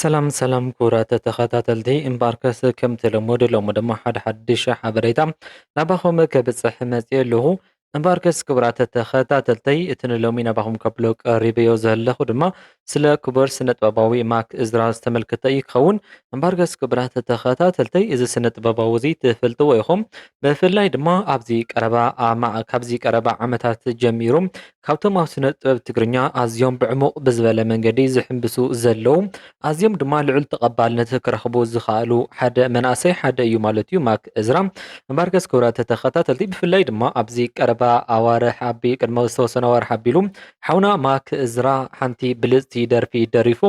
ሰላም ሰላም ክቡራት ተኸታተልቲ እምበኣርከስ ከምቲ ልሙድ ሎሚ ድማ ሓደ ሓድሽ ሓበሬታ ናባኹም ከብፅሕ መፂኡ ኣለኹ እምበኣርከስ ክቡራት ተኸታተልተይ እቲ ንሎሚ ናባኹም ከብሎ ቀሪበዮ ዘለኹ ድማ ስለ ክቡር ስነ ጥበባዊ ማክ እዝራ ዝተመልከተ እዩ ክኸውን እምበኣርከስ ክቡራት ተኸታተልተይ እዚ ስነ ጥበባዊ እዚ ትፈልጥዎ ኢኹም ብፍላይ ድማ ኣብዚ ቀረባ ኣማ ካብዚ ቀረባ ዓመታት ጀሚሩ ካብቶም ኣብ ስነ ጥበብ ትግርኛ ኣዝዮም ብዕሙቕ ብዝበለ መንገዲ ዝሕምብሱ ዘለዉ ኣዝዮም ድማ ልዑል ተቐባልነት ክረኽቡ ዝኸኣሉ ሓደ መንእሰይ ሓደ እዩ ማለት እዩ ማክ እዝራ እምበርከስ ክብራት ተኸታተልቲ ብፍላይ ድማ ኣብዚ ቀረባ ኣዋርሕ ኣቢ ቅድመ ዝተወሰነ ኣዋርሕ ኣቢሉ ሓውና ማክ እዝራ ሓንቲ ብልፅቲ ደርፊ ደሪፉ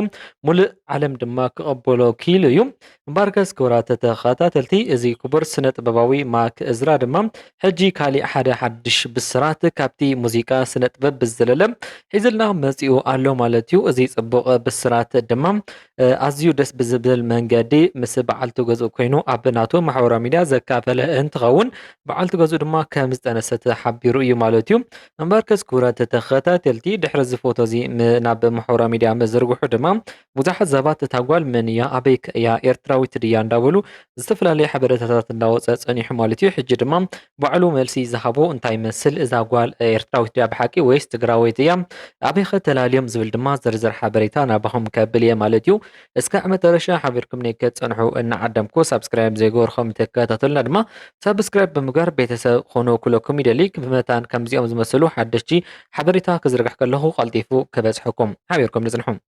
ሙሉእ ዓለም ድማ ክቐበሎ ክኢሉ እዩ እምበኣርከስ ክቡራት ተኸታተልቲ እዚ ክቡር ስነ ጥበባዊ ማክ እዝራ ድማ ሕጂ ካሊእ ሓደ ሓድሽ ብስራት ካብቲ ሙዚቃ ስነ ጥበብ ብዝዘለለ ሒዝልና መጺኡ ኣሎ ማለት እዩ እዚ ጽቡቕ ብስራት ድማ ኣዝዩ ደስ ብዝብል መንገዲ ምስ በዓልቲ ገዝኡ ኮይኑ ኣብ ናቱ ማሕበራዊ ሚድያ ዘካፈለ እንትኸውን በዓልቲ ገዝኡ ድማ ከም ዝጠነሰት ሓቢሩ እዩ ማለት እዩ እምበኣርከስ ክቡራት ተኸታተልቲ ድሕሪ እዚ ፎቶ እዚ ናብ ማሕበራዊ ሚድያ ምዝርግሑ ድማ ብዙሓት ሰባት እታ ጓል መን እያ ኣበይ ከ እያ ኤርትራዊት ድያ እንዳበሉ ዝተፈላለየ ሓበረታታት እንዳወጸ ጸኒሑ ማለት እዩ ሕጂ ድማ ባዕሉ መልሲ ዝሃቦ እንታይ ይመስል እዛ ጓል ኤርትራዊት ድያ ብሓቂ ወይስ ትግራወይቲ እያ ኣበይ ከ ተላልዮም ዝብል ድማ ዝርዝር ሓበሬታ ናባኹም ከብል እየ ማለት እዩ እስካዕ መጠረሻ ሓቢርኩምኒ ክትጸንሑ እናዓደምኩ ሳብስክራይብ ዘይገበርኩም ተከታተሉና ድማ ሳብስክራይብ ብምግባር ቤተሰብ ኾኑ ክለኩም ይደሊ ብመታን ከምዚኦም ዝመሰሉ ሓደሽቲ ሓበሬታ ክዝርግሕ ከለኹ ቀልጢፉ ክበጽሐኩም ሓቢርኩም ንጽንሑ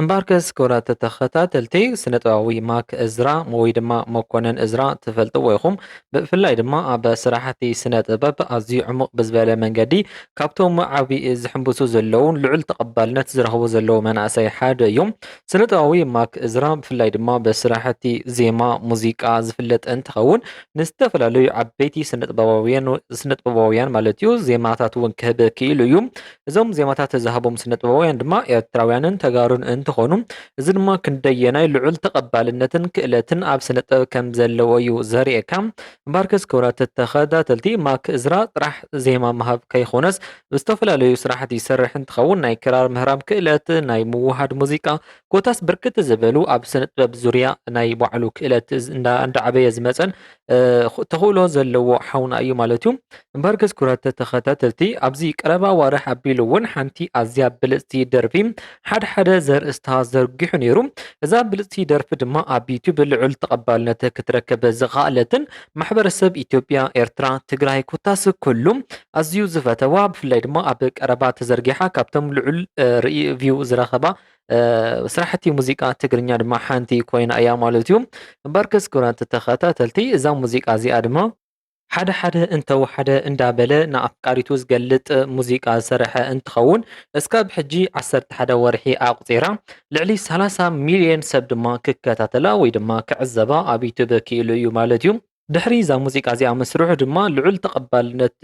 እምበኣርከስ ክቡራት ተኸታተልቲ ስነ ጥበባዊ ማክ እዝራ ወይ ድማ መኮነን እዝራ ትፈልጥዎ ኢኹም። ብፍላይ ድማ ኣብ ስራሕቲ ስነ ጥበብ ኣዝዩ ዕሙቕ ብዝበለ መንገዲ ካብቶም ዓቢ ዝሕምብሱ ዘለውን ልዑል ተቐባልነት ዝረኽቡ ዘለዉ መናእሰይ ሓደ እዩ። ስነ ጥበባዊ ማክ እዝራ ብፍላይ ድማ ብስራሕቲ ዜማ፣ ሙዚቃ ዝፍለጥ እንትኸውን ንዝተፈላለዩ ዓበይቲ ስነጥበባውያን ስነጥበባውያን ማለት እዩ ዜማታት እውን ክህብ ክኢሉ እዩ እዞም ዜማታት ዝሃቦም ስነጥበባውያን ድማ ኤርትራውያንን ተጋሩን እንትኾኑ እዚ ድማ ክንደየናይ ልዑል ተቐባልነትን ክእለትን ኣብ ስነጥበብ ከም ዘለዎ እዩ ዘርእየካ እምበርከስ ክብራት ተኸታተልቲ ማክ እዝራ ጥራሕ ዜማ ምሃብ ከይኾነስ ዝተፈላለዩ ስራሕት ይሰርሕ እንትኸውን ናይ ክራር ምህራም ክእለት ናይ ምውሃድ ሙዚቃ ኮታስ ብርክት ዝበሉ ኣብ ስነ ጥበብ ዙርያ ናይ ባዕሉ ክእለት እንዳዓበየ ዝመፀን ተኽእሎ ዘለዎ ሓውና እዩ ማለት እዩ እምበር ገዝ ኩራት ተኸታተልቲ ኣብዚ ቀረባ ዋርሕ ኣቢሉ እውን ሓንቲ ኣዝያ ብልፅቲ ደርፊ ሓደ ሓደ ዘርእስታ ዘርጊሑ ነይሩ እዛ ብልፅቲ ደርፊ ድማ ኣብ ዩቱብ ልዑል ተቐባልነት ክትረከብ ዝኸኣለትን ማሕበረሰብ ኢትዮጵያ ኤርትራ ትግራይ ኮታስ ኩሉ ኣዝዩ ዝፈተዋ ብፍላይ ድማ ኣብ ቀረባ ተዘርጊሓ ካብቶም ልዑል ርእዩ ቪው ዝረኸባ ስራሕቲ ሙዚቃ ትግርኛ ድማ ሓንቲ ኮይና እያ ማለት እዩ እምበርከስ ክብራት ተኸታተልቲ እዛ ሙዚቃ እዚኣ ድማ ሓደ ሓደ እንተወሓደ እንዳበለ ንኣፍቃሪቱ ዝገልጥ ሙዚቃ ዝሰረሐ እንትኸውን እስካብ ሕጂ ዓሰርተ ሓደ ወርሒ ኣቁፂራ ልዕሊ ሰላሳ ሚሊዮን ሰብ ድማ ክከታተላ ወይ ድማ ክዕዘባ ኣብ ዩቱብ ክኢሉ እዩ ማለት እዩ ድሕሪ እዛ ሙዚቃ እዚኣ ምስርሑ ድማ ልዑል ተቐባልነት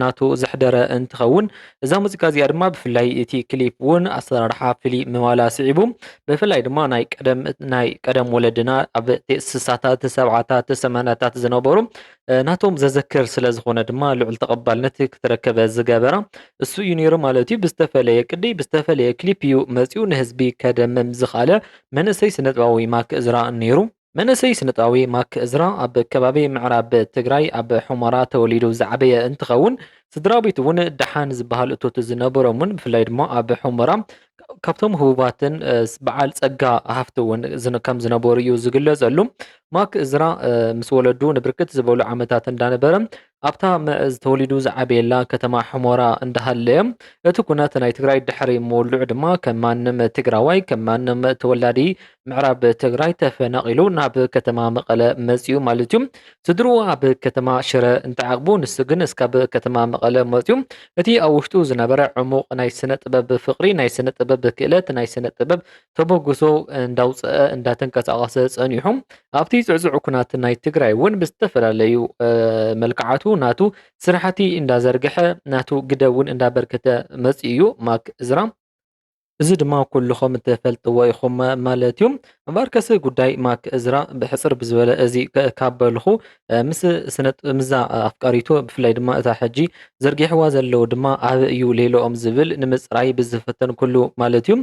ናቱ ዘሕደረ እንትኸውን እዛ ሙዚቃ እዚኣ ድማ ብፍላይ እቲ ክሊፕ እውን ኣሰራርሓ ፍልይ ምባላ ስዒቡ ብፍላይ ድማ ናይ ቀደም ናይ ቀደም ወለድና ኣብ ስሳታት ሰብዓታት ሰማንያታት ዝነበሩ ናቶም ዘዘክር ስለ ዝኾነ ድማ ልዑል ተቐባልነት ክትረከበ ዝገበራ እሱ እዩ ነይሩ ማለት እዩ። ብዝተፈለየ ቅዲ ብዝተፈለየ ክሊፕ እዩ መፂኡ ንህዝቢ ከደምም ዝኸኣለ መንእሰይ ስነጥባዊ ማክ እዝራ ነይሩ። መንእሰይ ስነጥበባዊ ማክ እዝራ ኣብ ከባቢ ምዕራብ ትግራይ ኣብ ሑመራ ተወሊዱ ዝዓበየ እንትኸውን ስድራቤቱ እውን ደሓን ዝበሃል እቶት ዝነበሮምን ብፍላይ ድማ ኣብ ሑመራ ካብቶም ህቡባትን በዓል ፀጋ ሃፍቲ እውን ከም ዝነበሩ እዩ ዝግለፀሉ። ማክ እዝራ ምስ ወለዱ ንብርክት ዝበሉ ዓመታት እንዳነበረ ኣብታ መእዝ ተወሊዱ ዝዓበየላ ከተማ ሑሞራ እንዳሃለየ እቲ ኩነት ናይ ትግራይ ድሕሪ ምውልዑ ድማ ከም ማንም ትግራዋይ ከም ማንም ተወላዲ ምዕራብ ትግራይ ተፈናቒሉ ናብ ከተማ መቐለ መፂኡ ማለት እዩ። ስድርኡ ኣብ ከተማ ሽረ እንተዓቕቡ ንሱ ግን እስካብ ከተማ መቐለ መፂኡ። እቲ ኣብ ውሽጡ ዝነበረ ዕሙቕ ናይ ስነ ጥበብ ፍቕሪ፣ ናይ ስነ ጥበብ ክእለት፣ ናይ ስነ ጥበብ ተበግሶ እንዳውፀአ እንዳተንቀሳቐሰ ፀኒሑ ኣብቲ ዝዕዝዑ ኩናት ናይ ትግራይ እውን ብዝተፈላለዩ መልክዓቱ ናቱ ስራሕቲ እንዳዘርግሐ ናቱ ግደ እውን እንዳበርከተ መፅኡ እዩ ማክ እዝራ እዚ ድማ ኩልኹም ትፈልጥዎ ኢኹም ማለት እዩ። እምበኣርከስ ጉዳይ ማክ እዝራ ብሕፅር ብዝበለ እዚ ካብ በልኹ ምስ ስነጥበምዛ ኣፍቃሪቶ ብፍላይ ድማ እታ ሕጂ ዘርጊሕዋ ዘለዉ ድማ ኣበ እዩ ሌሎኦም ዝብል ንምፅራይ ብዝፈተንኩሉ ማለት እዩ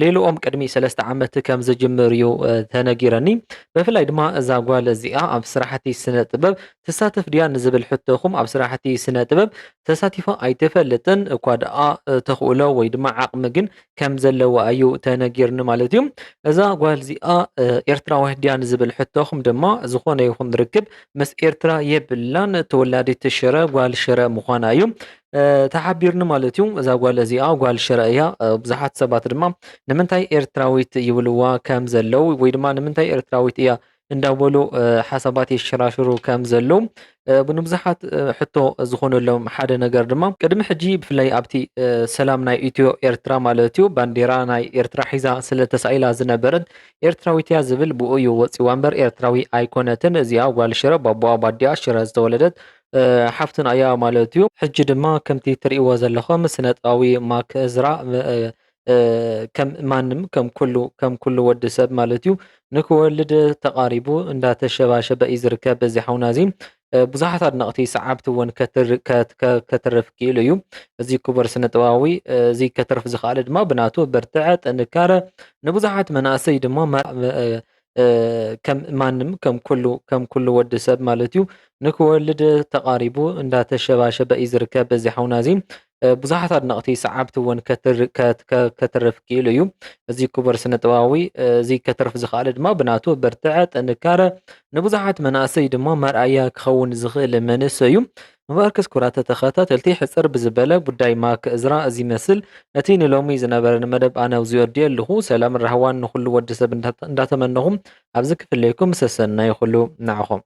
ሌሎኦም ቅድሚ ሰለስተ ዓመት ከም ዝጅምር እዩ ተነጊረኒ ብፍላይ ድማ እዛ ጓል እዚኣ ኣብ ስራሕቲ ስነ ጥበብ ትሳተፍ ድያ ንዝብል ሕቶኹም ኣብ ስራሕቲ ስነ ጥበብ ተሳቲፋ ኣይትፈልጥን እኳ ደኣ ተኽእሎ ወይ ድማ ዓቕሚ ግን ከም ዘለዋ እዩ ተነጊርኒ ማለት እዩ እዛ ጓል እዚኣ ኤርትራዊት ድያ ንዝብል ሕቶኹም ድማ ዝኾነ ይኹን ርክብ ምስ ኤርትራ የብላን ተወላዲት ሽረ ጓል ሽረ ምዃና እዩ ተሓቢርኒ ማለት እዩ እዛ ጓል እዚኣ ጓል ሽረ እያ ብዙሓት ሰባት ድማ ንምንታይ ኤርትራዊት ይብልዋ ከም ዘለው ወይ ድማ ንምንታይ ኤርትራዊት እያ እንዳበሉ ሓሳባት የሸራሽሩ ከም ዘለዉ ብንብዙሓት ሕቶ ዝኾነሎም ሓደ ነገር ድማ ቅድሚ ሕጂ ብፍላይ ኣብቲ ሰላም ናይ ኢትዮ ኤርትራ ማለት እዩ ባንዴራ ናይ ኤርትራ ሒዛ ስለ ተሳኢላ ዝነበረት ኤርትራዊት እያ ዝብል ብኡ እዩ ወጺዋ እምበር ኤርትራዊ ኣይኮነትን እዚኣ ጓል ሽረ ባቦኣ ባዲኣ ሽረ ዝተወለደት ሓፍትን ኣያ ማለት እዩ ሕጂ ድማ ከምቲ ትርእይዎ ዘለኹም ስነጥባዊ ማክ እዝራ ከም ማንም ከም ኩሉ ከም ኩሉ ወዲ ሰብ ማለት እዩ ንክወልድ ተቃሪቡ እንዳተሸባሸበ እዩ ዝርከብ በዚ ሓውና እዚ ብዙሓት ኣድነቕቲ ሰዓብቲ እውን ከትርፍ ክኢሉ እዩ እዚ ክቡር ስነ ጥበባዊ እዚ ከትርፍ ዝኸኣለ ድማ ብናቱ ብርትዐ ጥንካረ ንብዙሓት መናእሰይ ድማ ከም ማንም ከም ኩሉ ከም ኩሉ ወዲ ሰብ ማለት እዩ ንክወልድ ተቃሪቡ እንዳተሸባሸበ እዩ ዝርከብ በዚ ሓውና እዚ ብዙሓት ኣድነቕቲ ሰዓብቲ እውን ከትርፍ ክኢሉ እዩ። እዚ ክቡር ስነ ጥበባዊ እዚ ከትርፍ ዝኸኣለ ድማ ብናቱ ብርትዐ፣ ጥንካረ ንብዙሓት መናእሰይ ድማ መርኣያ ክኸውን ዝኽእል መንእሰይ እዩ። እምበኣርከስ ክቡራት ተኸታተልቲ ሕፅር ብዝበለ ጉዳይ ማክ እዝራ እዚ መስል እቲ ንሎሚ ዝነበረኒ መደብ ኣነ ኣብዚ ወዲየ ኣለኹ። ሰላምን ራህዋን ንኹሉ ወዲ ሰብ እንዳተመነኹም ኣብዚ ክፍለየኩም ሰሰናዩ ኩሉ ንዓኹም።